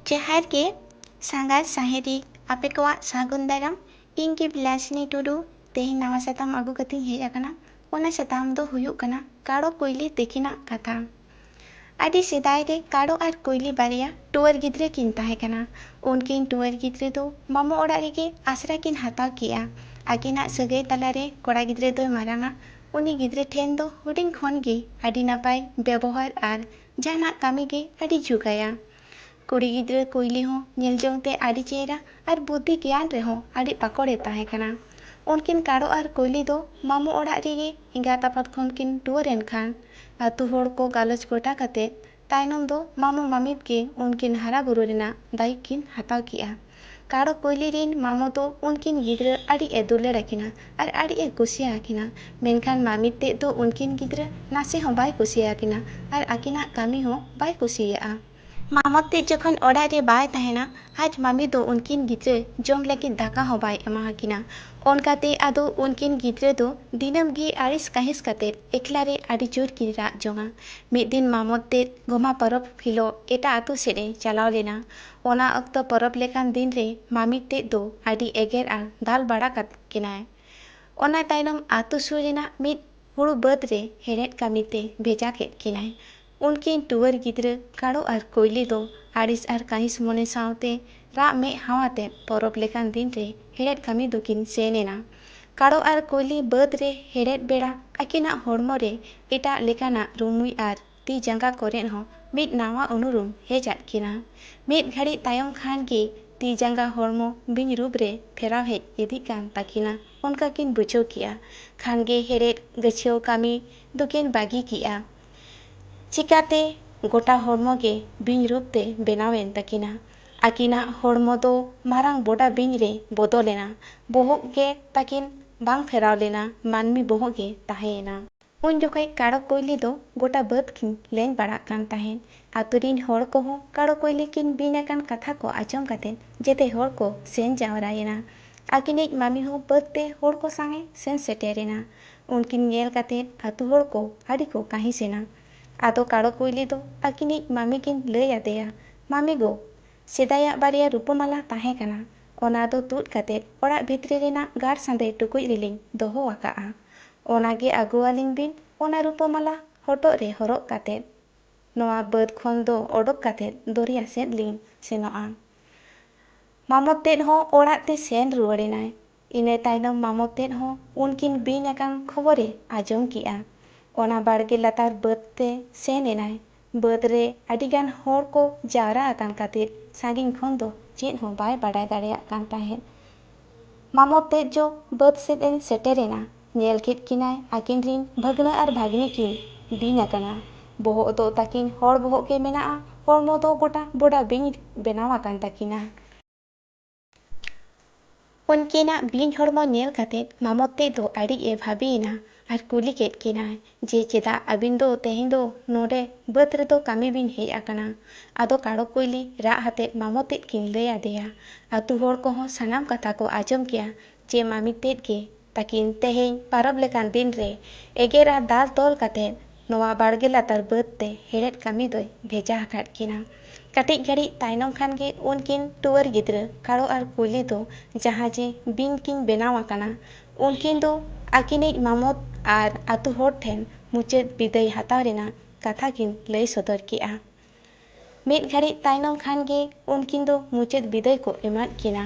ᱡᱚᱦᱟᱨ ᱜᱮ ᱥᱟᱸᱜᱷᱟᱨ ᱥᱟᱦᱮᱫᱤ ᱟᱯᱮ ᱠᱚᱣᱟᱜ ᱥᱟᱹᱜᱩᱱ ᱫᱟᱨᱟᱢ ᱤᱧ ᱜᱮ ᱵᱤᱞᱟᱥᱤᱱᱤ ᱴᱩᱰᱩ ᱛᱮᱦᱮᱧ ᱱᱟᱣᱟ ᱥᱟᱛᱟᱢ ᱟᱹᱜᱩ ᱠᱟᱛᱮᱧ ᱦᱮᱡ ᱟᱠᱟᱱᱟ ᱚᱱᱟ ᱥᱟᱛᱟᱢ ᱫᱚ ᱦᱩᱭᱩᱜ ᱠᱟᱱᱟ ᱠᱟᱨᱚ ᱠᱩᱭᱞᱤ ᱛᱤᱠᱤᱱᱟᱜ ᱠᱟᱛᱷᱟ ᱟᱹᱰᱤ ᱥᱮᱫᱟᱭ ᱨᱮ ᱠᱟᱲᱚ ᱟᱨ ᱠᱩᱭᱞᱤ ᱵᱟᱨᱭᱟ ᱴᱩᱣᱟᱹᱨ ᱜᱤᱫᱽᱨᱟᱹ ᱠᱤᱱ ᱛᱟᱦᱮᱸ ᱠᱟᱱᱟ᱾ ᱩᱱᱠᱤᱱ ᱴᱩᱣᱟᱹᱨ ᱜᱤᱫᱽᱨᱟᱹ ᱫᱚ ᱢᱟᱢᱚ ᱚᱲᱟᱜ ᱨᱮᱜᱮ ᱟᱥᱲᱟ ᱠᱤᱱ ᱦᱟᱛᱟᱣ ᱠᱮᱫᱼᱟ᱾ ᱟᱹᱠᱤᱱᱟᱜ ᱥᱟᱹᱜᱟᱹᱭ ᱛᱟᱞᱟ ᱨᱮ ᱠᱚᱲᱟ ᱜᱤᱫᱽᱨᱟᱹ ᱫᱚᱭ ᱢᱟᱨᱟᱝᱼᱟ᱾ ᱩᱱᱤ ᱜᱤᱫᱽᱨᱟᱹ ᱴᱷᱮᱱ ᱫᱚ ᱦᱩᱰᱤᱧ ᱠᱷᱚᱱ ᱜᱮ ᱟᱹᱰᱤ ᱱᱟᱯᱟᱭ ᱵᱮᱵᱚᱦᱟᱨ ᱟᱨ ᱡᱟᱦᱟᱱᱟᱜ ᱠᱟᱹᱢᱤ ᱜᱮ ᱟᱹᱰᱤ ᱡᱩᱜᱟᱭᱟ᱾ ᱠᱩᱲᱤ ᱜᱤᱫᱽᱨᱟᱹ ᱠᱩᱭᱞᱤ ᱦᱚᱸ ᱧᱮᱞ ᱡᱚᱝ ᱛᱮ ᱟᱹᱰᱤ ᱪᱮᱦᱨᱟ ᱟᱨ ᱵᱩᱫᱷᱤ ᱜᱮᱭᱟᱱ ᱨᱮᱦᱚᱸ ᱟᱹᱰᱤ ᱯᱟᱠᱚᱲ ᱮ ᱛᱟᱦᱮᱸ ᱠᱟᱱᱟ᱾ ᱩᱱᱠᱤᱱ ᱠᱟᱲᱚ ᱟᱨ ᱠᱩᱭᱞᱤ ᱫᱚ ᱢᱟᱢᱚ ᱚᱲᱟᱜ ᱨᱮᱜᱮ ᱮᱸᱜᱟᱛ ᱟᱯᱟᱛ ᱠᱷᱚᱱ ᱠᱤᱱ ᱴᱩᱣᱟᱹᱨ ᱮᱱ ᱠᱷᱟᱱ ᱟᱹᱛᱩ ᱦᱚᱲ ᱠᱚ ᱜᱟᱞᱚᱪ ᱜᱚᱴᱟ ᱠᱟᱛᱮ ᱛᱟᱭᱱᱚᱢ ᱫᱚ ᱢᱟᱢᱚ ᱢᱟᱢᱤᱛ ᱜᱮ ᱩᱱᱠᱤᱱ ᱦᱟᱨᱟ ᱵᱩᱨᱩ ᱨᱮᱱᱟᱜ ᱫᱟᱭᱤᱠ ᱠᱤᱱ ᱦᱟᱛᱟᱣ ᱠᱮᱜᱼᱟ᱾ ᱠᱟᱲᱚ ᱠᱩᱭᱞᱤ ᱨᱤᱱ ᱢᱟᱢᱚ ᱫᱚ ᱩᱱᱠᱤᱱ ᱜᱤᱫᱽᱨᱟᱹ ᱟᱹᱰᱤ ᱮ ᱫᱩᱞᱟᱹᱲ ᱟᱠᱤᱱᱟ ᱟᱨ ᱟᱹᱰᱤ ᱮ ᱠᱩᱥᱤ ᱟᱠᱤᱱᱟ᱾ ᱢᱮᱱᱠᱷᱟᱱ ᱢᱟᱢᱤᱛ ᱛᱮᱫ ᱫᱚ ᱩᱱᱠᱤᱱ ᱜᱤᱫᱽᱨᱟᱹ ᱱᱟᱥᱮ ᱦᱚᱸ ᱵᱟᱭ ᱠᱩᱥᱤ ᱟᱠᱤᱱᱟ ᱟᱨ ᱟᱠᱤᱱᱟᱜ ᱠᱟᱹᱢᱤ ᱦᱚᱸ ᱵᱟᱭ ᱠᱩᱥᱤᱭᱟᱜᱼᱟ᱾ ᱢᱟᱢᱚᱛ ᱛᱮᱫ ᱡᱚᱠᱷᱚᱱ ᱚᱲᱟᱜ ᱨᱮ ᱵᱟᱭ ᱛᱟᱦᱮᱸᱱᱟ ᱟᱡ ᱢᱟᱢᱤ ᱫᱚ ᱩᱱᱠᱤᱱ ᱜᱤᱫᱽᱨᱟᱹ ᱡᱚᱢ ᱞᱟᱹᱜᱤᱫ ᱫᱟᱠᱟ ᱦᱚᱸ ᱵᱟᱭ ᱮᱢᱟ ᱟᱠᱤᱱᱟ᱾ ᱚᱱᱠᱟ ᱛᱮ ᱟᱫᱚ ᱩᱱᱠᱤᱱ ᱜᱤᱫᱽᱨᱟᱹ ᱫᱚ ᱫᱤᱱᱟᱹᱢ ᱜᱮ ᱟᱹᱲᱤᱥ ᱠᱟᱹᱦᱤᱥ ᱠᱟᱛᱮ ᱮᱠᱞᱟ ᱨᱮ ᱟᱹᱰᱤ ᱡᱩᱨ ᱠᱤᱱ ᱨᱟᱜ ᱡᱚᱝᱼᱟ᱾ ᱢᱤᱫ ᱫᱤᱱ ᱢᱟᱢᱚᱛ ᱛᱮᱫ ᱜᱚᱢᱦᱟ ᱯᱚᱨᱚᱵᱽ ᱦᱤᱞᱚᱜ ᱮᱴᱟᱜ ᱟᱹᱛᱩ ᱥᱮᱫ ᱮ ᱪᱟᱞᱟᱣ ᱞᱮᱱᱟ᱾ ᱚᱱᱟ ᱚᱠᱛᱚ ᱯᱚᱨᱚᱵᱽ ᱞᱮᱠᱟᱱ ᱫᱤᱱ ᱨᱮ ᱢᱟᱢᱤᱫᱴᱮᱡ ᱫᱚ ᱟᱹᱰᱤ ᱮᱜᱮᱨ ᱟᱨ ᱫᱟᱞ ᱵᱟᱲᱟ ᱠᱟᱫ ᱠᱤᱱᱟᱭ᱾ ᱚᱱᱟ ᱛᱟᱭᱱᱚᱢ ᱟᱹᱛᱩ ᱥᱩᱨ ᱨᱮᱱᱟᱜ ᱢᱤᱫ ᱦᱩᱲᱩ ᱵᱟᱹᱫᱽ ᱨᱮ ᱦᱮᱲᱦᱮᱫ ᱠᱟᱹᱢᱤ ᱛᱮ ᱵᱷᱮᱡᱟ ᱠᱮᱫ ᱠᱤᱱᱟᱭ᱾ ᱩᱱᱠᱤᱱ ᱴᱩᱣᱟᱹᱨ ᱜᱤᱫᱽᱨᱟᱹ ᱠᱟᱲᱚ ᱟᱨ ᱠᱩᱭᱞᱤ ᱫᱚ ᱟᱹᱲᱤᱥ ᱟᱨ ᱠᱟᱺᱦᱤᱥ ᱢᱚᱱᱮ ᱥᱟᱶᱛᱮ ᱨᱟᱜ ᱢᱮᱫ ᱦᱟᱣ ᱟᱛᱮ ᱯᱚᱨᱚᱵᱽ ᱞᱮᱠᱟᱱ ᱫᱤᱱ ᱨᱮ ᱦᱮᱲᱦᱮᱫ ᱠᱟᱹᱢᱤ ᱫᱚᱠᱤᱱ ᱥᱮᱱ ᱮᱱᱟ᱾ ᱠᱟᱲᱚ ᱟᱨ ᱠᱩᱭᱞᱤ ᱵᱟᱹᱫᱽ ᱨᱮ ᱦᱮᱲᱦᱮᱫ ᱵᱮᱲᱟ ᱟᱹᱠᱤᱱᱟᱜ ᱦᱚᱲᱢᱚ ᱨᱮ ᱮᱴᱟᱜ ᱞᱮᱠᱟᱱᱟᱜ ᱨᱩᱢᱩᱭ ᱟᱨ ᱛᱤ ᱡᱟᱸᱜᱟ ᱠᱚᱨᱮᱫ ᱦᱚᱸ ᱢᱤᱫ ᱱᱟᱶᱟ ᱩᱱᱩᱨᱩᱢ ᱦᱮᱡ ᱟᱫ ᱠᱤᱱᱟ᱾ ᱢᱤᱫ ᱜᱷᱟᱹᱲᱤᱡ ᱛᱟᱭᱚᱢ ᱠᱷᱟᱱ ᱜᱮ ᱛᱤ ᱡᱟᱸᱜᱟ ᱦᱚᱲᱢᱚ ᱵᱤᱧ ᱨᱩᱯ ᱨᱮ ᱯᱷᱮᱨᱟᱣ ᱦᱮᱡ ᱤᱫᱤᱜ ᱠᱟᱱ ᱛᱟᱹᱠᱤᱱᱟ ᱚᱱᱠᱟ ᱠᱤᱱ ᱵᱩᱡᱷᱟᱹᱣ ᱠᱮᱫᱼᱟ᱾ ᱠᱷᱟᱱ ᱜᱮ ᱦᱮᱲᱦᱮᱫ ᱜᱟᱹᱪᱷᱭᱟᱹᱣ ᱠᱟᱹᱢᱤ ᱫᱚᱠᱤᱱ ᱵᱟᱹᱜᱤ ᱠᱮᱫᱼᱟ᱾ ᱪᱤᱠᱟᱹᱛᱮ ᱜᱚᱴᱟ ᱦᱚᱲᱢᱚ ᱜᱮ ᱵᱤᱧ ᱨᱩᱯ ᱛᱮ ᱵᱮᱱᱟᱣ ᱮᱱ ᱛᱟᱹᱠᱤᱱᱟ᱾ ᱟᱹᱠᱤᱱᱟᱜ ᱦᱚᱲᱢᱚ ᱫᱚ ᱢᱟᱨᱟᱝ ᱵᱚᱰᱟ ᱵᱤᱧ ᱨᱮ ᱵᱚᱫᱚᱞ ᱮᱱᱟ᱾ ᱵᱚᱦᱚᱜ ᱜᱮ ᱛᱟᱹᱠᱤᱱ ᱵᱟᱝ ᱯᱷᱮᱨᱟᱣ ᱞᱮᱱᱟ, ᱢᱟᱹᱱᱢᱤ ᱵᱚᱦᱚᱜ ᱜᱮ ᱛᱟᱦᱮᱸ ᱮᱱᱟ᱾ ᱩᱱ ᱡᱚᱠᱷᱮᱡ ᱠᱟᱲᱚ ᱠᱩᱭᱞᱤ ᱫᱚ ᱜᱚᱴᱟ ᱵᱟᱹᱫᱽ ᱠᱤᱱ ᱞᱮᱧ ᱵᱟᱲᱟᱜ ᱠᱟᱱ ᱛᱟᱦᱮᱸᱫ᱾ ᱟᱹᱛᱩ ᱨᱤᱱ ᱦᱚᱲ ᱠᱚ ᱦᱚᱸ ᱠᱟᱲᱚ ᱠᱩᱭᱞᱤ ᱠᱤᱱ ᱵᱤᱧ ᱟᱠᱟᱱ ᱠᱟᱛᱷᱟ ᱠᱚ ᱟᱸᱡᱚᱢ ᱠᱟᱛᱮ ᱡᱮᱛᱮ ᱦᱚᱲ ᱠᱚ ᱥᱮᱱ ᱡᱟᱣᱨᱟ ᱮᱱᱟ᱾ ᱟᱹᱠᱤᱱᱤᱡ ᱢᱟᱹᱢᱤ ᱦᱚᱸ ᱵᱟᱹᱫᱽ ᱛᱮ ᱦᱚᱲ ᱠᱚ ᱥᱟᱝ ᱮ ᱥᱮᱱ ᱥᱮᱴᱮᱨ ᱮᱱᱟ᱾ ᱩᱱᱠᱤᱱ ᱧᱮᱞ ᱠᱟᱛᱮ ᱟᱹᱛᱩ ᱦᱚᱲ ᱠᱚ ᱟᱹᱰᱤ ᱠᱚ ᱠᱟᱹᱦᱤᱸᱥ ᱮᱱᱟ᱾ ᱟᱫᱚ ᱠᱟᱲᱚ ᱠᱩᱭᱞᱤ ᱫᱚ ᱟᱹᱠᱤᱱᱤᱡ ᱢᱟᱹᱢᱤ ᱠᱤᱱ ᱞᱟᱹᱭ ᱟᱫᱮᱭᱟ, ᱢᱟᱹᱢᱤ ᱜᱳ! ᱥᱮᱫᱟᱭᱟᱜ ᱵᱟᱨᱭᱟ ᱨᱩᱯᱟᱹ ᱢᱟᱞᱟ ᱛᱟᱦᱮᱸ ᱠᱟᱱᱟ᱾ ᱚᱱᱟ ᱫᱚ ᱛᱩᱫ ᱠᱟᱛᱮ ᱚᱲᱟᱜ ᱵᱷᱤᱛᱨᱤ ᱨᱮᱱᱟᱜ ᱜᱟᱲ ᱥᱟᱸᱫᱮ ᱴᱩᱠᱩᱡ ᱨᱮᱞᱤᱧ ᱫᱚᱦᱚ ᱟᱠᱟᱫᱼᱟ᱾ ᱚᱱᱟ ᱜᱮ ᱟᱹᱜᱩ ᱟᱹᱞᱤᱧ ᱵᱤᱱ ᱚᱱᱟ ᱨᱩᱯᱟᱹ ᱢᱟᱞᱟ ᱦᱚᱴᱚᱜ ᱨᱮ ᱦᱚᱨᱚᱜ ᱠᱟᱛᱮ ᱱᱚᱶᱟ ᱵᱟᱹᱫᱽ ᱠᱷᱚᱱ ᱫᱚ ᱚᱰᱚᱠ ᱠᱟᱛᱮ ᱫᱚᱨᱭᱟ ᱥᱮᱫ ᱞᱤᱧ ᱥᱮᱱᱚᱜᱼᱟ᱾ ᱢᱟᱢᱚ ᱛᱮᱫ ᱦᱚᱸ ᱚᱲᱟᱜ ᱛᱮ ᱥᱮᱱ ᱨᱩᱣᱟᱹᱲ ᱮᱱᱟᱭ᱾ ᱤᱱᱟᱹ ᱛᱟᱭᱱᱚᱢ ᱢᱟᱢᱚ ᱛᱮᱫ ᱦᱚᱸ ᱩᱱᱠᱤᱱ ᱵᱤᱧ ᱟᱠᱟᱱ ᱠᱷᱚᱵᱚᱨ ᱮ ᱟᱸᱡᱚᱢ ᱠᱮᱫᱼᱟ᱾ ᱚᱱᱟ ᱵᱟᱲᱜᱮ ᱞᱟᱛᱟᱨ ᱵᱟᱹᱫᱽ ᱛᱮ ᱥᱮᱱ ᱮᱱᱟᱭ᱾ ᱵᱟᱹᱫᱽ ᱨᱮ ᱟᱹᱰᱤ ᱜᱟᱱ ᱦᱚᱲ ᱠᱚ ᱡᱟᱣᱨᱟ ᱟᱠᱟᱱ ᱠᱷᱟᱹᱛᱤᱨ ᱥᱟᱺᱜᱤᱧ ᱠᱷᱚᱱ ᱫᱚ ᱪᱮᱫ ᱦᱚᱸ ᱵᱟᱭ ᱵᱟᱰᱟᱭ ᱫᱟᱲᱮᱭᱟᱜ ᱠᱟᱱ ᱛᱟᱦᱮᱸᱫ᱾ ᱢᱟᱢᱚ ᱛᱮᱫ ᱡᱚ ᱵᱟᱹᱫᱽ ᱥᱮᱫ ᱮ ᱥᱮᱴᱮᱨ ᱮᱱᱟ᱾ ᱧᱮᱞ ᱠᱮᱫ ᱠᱤᱱᱟᱭ ᱟᱹᱠᱤᱱ ᱨᱤᱱ ᱵᱷᱟᱹᱜᱽᱱᱟᱹ ᱟᱨ ᱵᱷᱟᱹᱜᱽᱱᱤ ᱠᱤᱱ ᱵᱤᱧ ᱟᱠᱟᱱᱟ᱾ ᱵᱚᱦᱚᱜ ᱫᱚ ᱛᱟᱹᱠᱤᱱ ᱦᱚᱲ ᱵᱚᱦᱚᱜ ᱜᱮ ᱢᱮᱱᱟᱜᱼᱟ, ᱦᱚᱲᱢᱚ ᱫᱚ ᱜᱚᱴᱟ ᱵᱚᱰᱟ ᱵᱤᱧ ᱵᱮᱱᱟᱣ ᱟᱠᱟᱱ ᱛᱟᱹᱠᱤᱱᱟ᱾ ᱩᱱᱠᱤᱱᱟᱜ ᱵᱤᱧ ᱦᱚᱲᱢᱚ ᱧᱮᱞ ᱠᱟᱛᱮ ᱢᱟᱢᱚᱛᱛᱮ ᱫᱚ ᱟᱹᱰᱤ ᱮ ᱵᱷᱟᱹᱵᱤ ᱮᱱᱟ ᱟᱨ ᱠᱩᱞᱤ ᱠᱮᱫ ᱠᱤᱱᱟᱭ ᱡᱮ ᱪᱮᱫᱟᱜ ᱟᱹᱵᱤᱱ ᱫᱚ ᱛᱮᱦᱮᱧ ᱫᱚ ᱱᱚᱰᱮ ᱵᱟᱹᱫᱽ ᱨᱮᱫᱚ ᱠᱟᱹᱢᱤ ᱵᱤᱱ ᱦᱮᱡ ᱟᱠᱟᱱᱟ᱾ ᱟᱫᱚ ᱠᱟᱲᱚ ᱠᱩᱭᱞᱤ ᱨᱟᱜ ᱟᱛᱮ ᱢᱟᱢᱚᱛᱛᱮ ᱠᱤᱱ ᱞᱟᱹᱭ ᱟᱫᱮᱭᱟ᱾ ᱟᱹᱛᱩ ᱦᱚᱲ ᱠᱚᱦᱚᱸ ᱥᱟᱱᱟᱢ ᱠᱟᱛᱷᱟ ᱠᱚ ᱟᱸᱡᱚᱢ ᱠᱮᱫᱼᱟ ᱡᱮ ᱢᱟᱢᱤᱛᱛᱮ ᱜᱮ ᱛᱟᱹᱠᱤᱱ ᱛᱮᱦᱮᱧ ᱯᱟᱨᱟᱵᱽ ᱞᱮᱠᱟᱱ ᱫᱤᱱ ᱨᱮ ᱮᱜᱮᱨ ᱟᱨ ᱫᱟᱞ ᱛᱚᱞ ᱠᱟᱛᱮ ᱱᱚᱣᱟ ᱵᱟᱲᱜᱮ ᱞᱟᱛᱟᱨ ᱵᱟᱹᱫᱽ ᱛᱮ ᱦᱮᱲᱦᱮᱫ ᱠᱟᱹᱢᱤ ᱫᱚᱭ ᱵᱷᱮᱡᱟ ᱟᱠᱟᱫ ᱠᱤᱱᱟ᱾ ᱠᱟᱹᱴᱤᱡ ᱜᱷᱟᱹᱲᱤᱡ ᱛᱟᱭᱱᱚᱢ ᱠᱷᱟᱱ ᱜᱮ ᱩᱱᱠᱤᱱ ᱴᱩᱣᱟᱹᱨ ᱜᱤᱫᱽᱨᱟᱹ ᱠᱟᱲᱚ ᱟᱨ ᱠᱩᱭᱞᱤ ᱫᱚ ᱡᱟᱦᱟᱸ ᱡᱮ ᱵᱤᱧ ᱠᱤᱱ ᱵᱮᱱᱟᱣ ᱟᱠᱟᱱᱟ, ᱩᱱᱠᱤᱱ ᱫᱚ ᱟᱹᱠᱤᱱᱤᱡ ᱢᱟᱢᱚᱛ ᱟᱨ ᱟᱹᱛᱩ ᱦᱚᱲ ᱴᱷᱮᱱ ᱢᱩᱪᱟᱹᱫ ᱵᱤᱫᱟᱹᱭ ᱦᱟᱛᱟᱣ ᱨᱮᱱᱟᱜ ᱠᱟᱛᱷᱟ ᱠᱤᱱ ᱞᱟᱹᱭ ᱥᱚᱫᱚᱨ ᱠᱮᱫᱼᱟ᱾ ᱢᱤᱫ ᱜᱷᱟᱹᱲᱤᱡ ᱛᱟᱭᱱᱚᱢ ᱠᱷᱟᱱ ᱜᱮ ᱩᱱᱠᱤᱱ ᱫᱚ ᱢᱩᱪᱟᱹᱫ ᱵᱤᱫᱟᱹᱭ ᱠᱚ ᱮᱢᱟᱫ ᱠᱤᱱᱟ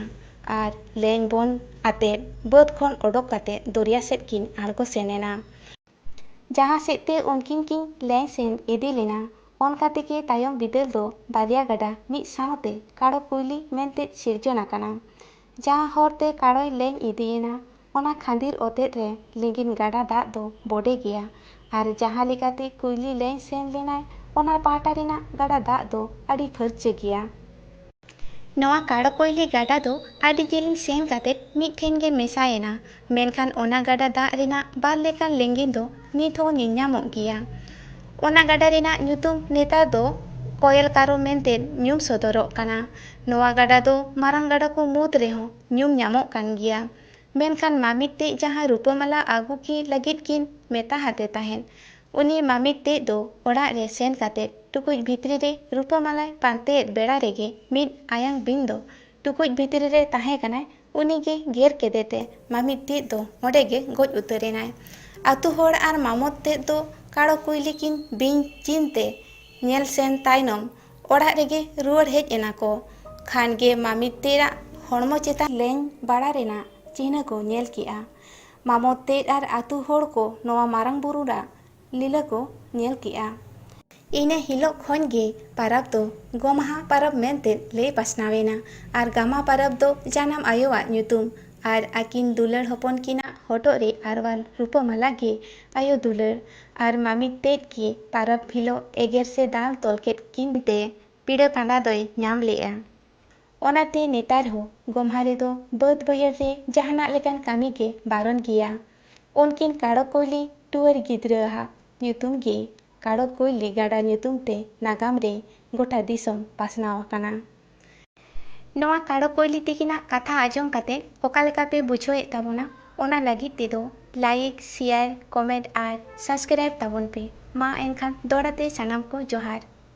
ᱟᱨ ᱞᱮᱧ ᱵᱚᱱ ᱟᱛᱮ ᱵᱟᱹᱫᱽ ᱠᱷᱚᱱ ᱚᱰᱚᱠ ᱠᱟᱛᱮ ᱫᱚᱨᱭᱟ ᱥᱮᱫ ᱠᱤᱱ ᱟᱬᱜᱚ ᱥᱮᱱ ᱮᱱᱟ᱾ ᱡᱟᱦᱟᱸ ᱥᱮᱫ ᱛᱮ ᱩᱱᱠᱤᱱ ᱠᱤᱱ ᱞᱮᱧ ᱥᱮᱱ ᱤᱫᱤ ᱞᱮᱱᱟ ᱚᱱᱠᱟ ᱛᱮᱜᱮ ᱛᱟᱭᱚᱢ ᱵᱤᱫᱟᱹᱞ ᱫᱚ ᱵᱟᱨᱭᱟ ᱜᱟᱰᱟ ᱢᱤᱫ ᱥᱟᱶᱛᱮ ᱠᱟᱲᱚ ᱠᱩᱭᱞᱤ ᱢᱮᱱᱛᱮ ᱥᱤᱨᱡᱚᱱ ᱟᱠᱟᱱᱟ᱾ ᱡᱟᱦᱟᱸ ᱦᱚᱨ ᱛᱮ ᱠᱟᱲᱚᱭ ᱞᱮᱧ ᱤᱫᱤ ᱮᱱᱟ ᱚᱱᱟ ᱠᱷᱟᱺᱫᱤᱨ ᱚᱛᱮᱫ ᱨᱮ ᱞᱤᱸᱜᱤᱱ ᱜᱟᱰᱟ ᱫᱟᱜ ᱫᱚ ᱵᱚᱰᱮ ᱜᱮᱭᱟ ᱟᱨ ᱡᱟᱦᱟᱸ ᱞᱮᱠᱟᱛᱮ ᱠᱩᱭᱞᱤ ᱞᱮᱧ ᱥᱮᱱ ᱞᱮᱱᱟᱭ ᱚᱱᱟ ᱯᱟᱦᱴᱟ ᱨᱮᱱᱟᱜ ᱜᱟᱰᱟ ᱫᱟᱜ ᱫᱚ ᱟᱹᱰᱤ ᱯᱷᱟᱹᱨᱪᱟᱹ ᱜᱮᱭᱟ᱾ ᱱᱚᱶᱟ ᱠᱟᱲᱚᱠᱚᱭᱞᱤ ᱜᱟᱰᱟ ᱫᱚ ᱟᱹᱰᱤ ᱡᱤᱞᱤᱧ ᱥᱮᱱ ᱠᱟᱛᱮ ᱢᱤᱫ ᱴᱷᱮᱱ ᱜᱮ ᱢᱮᱥᱟ ᱮᱱᱟ ᱢᱮᱱᱠᱷᱟᱱ ᱚᱱᱟ ᱜᱟᱰᱟ ᱫᱟᱜ ᱨᱮᱱᱟᱜ ᱵᱟᱨ ᱞᱮᱠᱟᱱ ᱞᱤᱸᱜᱤᱱ ᱫᱚ ᱱᱤᱛ ᱦᱚᱸ ᱧᱮᱞ ᱧᱟᱢᱚᱜ ᱜᱮᱭᱟ᱾ ᱚᱱᱟ ᱜᱟᱰᱟ ᱨᱮᱱᱟᱜ ᱧᱩᱛᱩᱢ ᱱᱮᱛᱟᱨ ᱫᱚ ᱠᱚᱭᱮᱞ ᱠᱟᱨᱳ ᱢᱮᱱᱛᱮ ᱧᱩᱢ ᱥᱚᱫᱚᱨᱚᱜ ᱠᱟᱱᱟ᱾ ᱱᱚᱣᱟ ᱜᱟᱰᱟ ᱫᱚ ᱢᱟᱨᱟᱝ ᱜᱟᱰᱟ ᱠᱚ ᱢᱩᱫᱽ ᱨᱮᱦᱚᱸ ᱧᱩᱢ ᱧᱟᱢᱚᱜ ᱠᱟᱱ ᱜᱮᱭᱟ᱾ ᱢᱮᱱᱠᱷᱟᱱ ᱢᱟᱢᱤᱴ ᱛᱮᱡ ᱡᱟᱦᱟᱸ ᱨᱩᱯᱟᱹᱢᱟᱞᱟ ᱟᱹᱜᱩ ᱠᱤ ᱞᱟᱹᱜᱤᱫ ᱠᱤᱱ ᱢᱮᱛᱟ ᱦᱟᱫᱮ ᱛᱟᱦᱮᱸᱫ, ᱩᱱᱤ ᱢᱟᱢᱤᱴ ᱛᱮᱡ ᱫᱚ ᱚᱲᱟᱜ ᱨᱮ ᱥᱮᱱ ᱠᱟᱛᱮ ᱴᱩᱠᱩᱡ ᱵᱷᱤᱛᱨᱤ ᱨᱮ ᱨᱩᱯᱟᱹᱢᱟᱞᱟᱭ ᱯᱟᱱᱛᱮᱭᱮᱫ ᱵᱮᱲᱟ ᱨᱮᱜᱮ ᱢᱤᱫ ᱟᱭᱟᱝ ᱵᱤᱧ ᱫᱚ ᱴᱩᱠᱩᱡ ᱵᱷᱤᱛᱨᱤ ᱨᱮ ᱛᱟᱦᱮᱸ ᱠᱟᱱᱟᱭ ᱩᱱᱤ ᱜᱮ ᱜᱮᱨ ᱠᱮᱫᱮ ᱛᱮ ᱢᱟᱢᱤᱛ ᱛᱮᱫ ᱫᱚ ᱚᱸᱰᱮ ᱜᱮ ᱜᱚᱡ ᱩᱛᱟᱹᱨ ᱮᱱᱟᱭ᱾ ᱟᱹᱛᱩ ᱦᱚᱲ ᱟᱨ ᱢᱟᱢᱚᱛ ᱛᱮᱫ ᱫᱚ ᱠᱟᱲᱚ ᱠᱩᱭᱞᱤ ᱠᱤᱱ ᱵᱤᱧ ᱪᱤᱱ ᱛᱮ ᱧᱮᱞ ᱥᱮᱱ ᱛᱟᱭᱱᱚᱢ ᱚᱲᱟᱜ ᱨᱮᱜᱮ ᱨᱩᱣᱟᱹᱲ ᱦᱮᱡ ᱮᱱᱟ ᱠᱚ᱾ ᱠᱷᱟᱱ ᱜᱮ ᱢᱟᱢᱤᱛ ᱛᱮᱫ ᱟᱜ ᱦᱚᱲᱢᱚ ᱪᱮᱛᱟᱱ᱾ ᱞᱮᱧ ᱵᱟᱲᱟ ᱨᱮᱱᱟᱜ ᱪᱤᱱᱦᱟᱹ ᱠᱚ ᱧᱮᱞ ᱠᱮᱫᱼᱟ᱾ ᱢᱟᱢᱚᱛ ᱛᱮᱫ ᱟᱨ ᱟᱹᱛᱩ ᱦᱚᱲ ᱠᱚ ᱱᱚᱣᱟ ᱢᱟᱨᱟᱝ ᱵᱩᱨᱩ ᱟᱜ ᱞᱤᱞᱟᱹ ᱠᱚ ᱧᱮᱞ ᱠᱮᱜᱼᱟ᱾ ᱤᱱᱟᱹ ᱦᱤᱞᱚᱜ ᱠᱷᱚᱱ ᱜᱮ ᱯᱟᱨᱟᱵᱽ ᱫᱚ ᱜᱚᱢᱦᱟ ᱯᱟᱨᱟᱵᱽ ᱢᱮᱱᱛᱮ ᱞᱟᱹᱭ ᱯᱟᱥᱱᱟᱣ ᱮᱱᱟ ᱟᱨ ᱜᱟᱢᱟ ᱯᱟᱨᱟᱵᱽ ᱫᱚ ᱡᱟᱱᱟᱢ ᱟᱭᱳ ᱟᱜ ᱧᱩᱛᱩᱢ ᱟᱨ ᱟᱹᱠᱤᱱ ᱫᱩᱞᱟᱹᱲ ᱦᱚᱯᱚᱱ ᱠᱤᱱ ᱟᱜ ᱦᱚᱴᱚᱜ ᱨᱮ ᱟᱨᱣᱟᱞ ᱨᱩᱯᱟᱹ ᱢᱟᱞᱟ ᱜᱮ ᱟᱭᱳ ᱫᱩᱞᱟᱹᱲ ᱟᱨ ᱢᱟᱢᱤᱫ ᱛᱮᱫ ᱜᱮ ᱯᱟᱨᱟᱵᱽ ᱦᱤᱞᱚᱜ ᱮᱜᱮᱨ ᱥᱮ ᱫᱟᱞ ᱛᱚᱞ ᱠᱮᱫ ᱠᱤᱱ ᱛᱮ ᱯᱤᱲᱟᱹ ᱯᱟᱸᱰᱟ ᱫᱚᱭ ᱧᱟᱢ ᱞᱮᱜᱼᱟ᱾ ᱚᱱᱟᱛᱮ ᱱᱮᱛᱟᱨ ᱦᱚᱸ ᱜᱚᱢᱦᱟ ᱨᱮᱫᱚ ᱵᱟᱹᱫᱽ ᱵᱟᱹᱭᱦᱟᱹᱲ ᱨᱮ ᱡᱟᱦᱟᱱᱟᱜ ᱞᱮᱠᱟᱱ ᱠᱟᱹᱢᱤ ᱜᱮ ᱵᱟᱨᱚᱱ ᱜᱮᱭᱟ᱾ ᱩᱱᱠᱤᱱ ᱠᱟᱲᱚ ᱠᱚᱭᱞᱤ ᱴᱩᱣᱟᱹᱨ ᱜᱤᱫᱽᱨᱟᱹ ᱟᱜ ᱧᱩᱛᱩᱢ ᱜᱮ ᱠᱟᱲᱚ ᱠᱚᱭᱞᱤ ᱜᱟᱰᱟ ᱧᱩᱛᱩᱢ ᱛᱮ ᱱᱟᱜᱟᱢ ᱨᱮ ᱜᱚᱴᱟ ᱫᱤᱥᱚᱢ ᱯᱟᱥᱱᱟᱣ ᱟᱠᱟᱱᱟ᱾ ᱱᱚᱣᱟ ᱠᱟᱲᱚ ᱠᱚᱭᱞᱤ ᱛᱤᱠᱤᱱᱟᱜ ᱠᱟᱛᱷᱟ ᱟᱸᱡᱚᱢ ᱠᱟᱛᱮ ᱚᱠᱟ ᱞᱮᱠᱟ ᱯᱮ ᱵᱩᱡᱷᱟᱹᱣ ᱮᱫ ᱛᱟᱵᱚᱱᱟ ᱚᱱᱟ ᱞᱟᱹᱜᱤᱫ ᱛᱮᱫᱚ ᱞᱟᱭᱤᱠ, ᱥᱮᱭᱟᱨ, ᱠᱚᱢᱮᱸᱴ ᱟᱨ ᱥᱟᱵᱽᱥᱠᱨᱟᱭᱤᱵᱽ ᱛᱟᱵᱚᱱ ᱯᱮ᱾ ᱢᱟ ᱮᱱᱠᱷᱟᱱ ᱫᱚᱲᱦᱟ ᱛᱮ ᱥᱟᱱᱟᱢ ᱠᱚ ᱡᱚᱦᱟᱨ᱾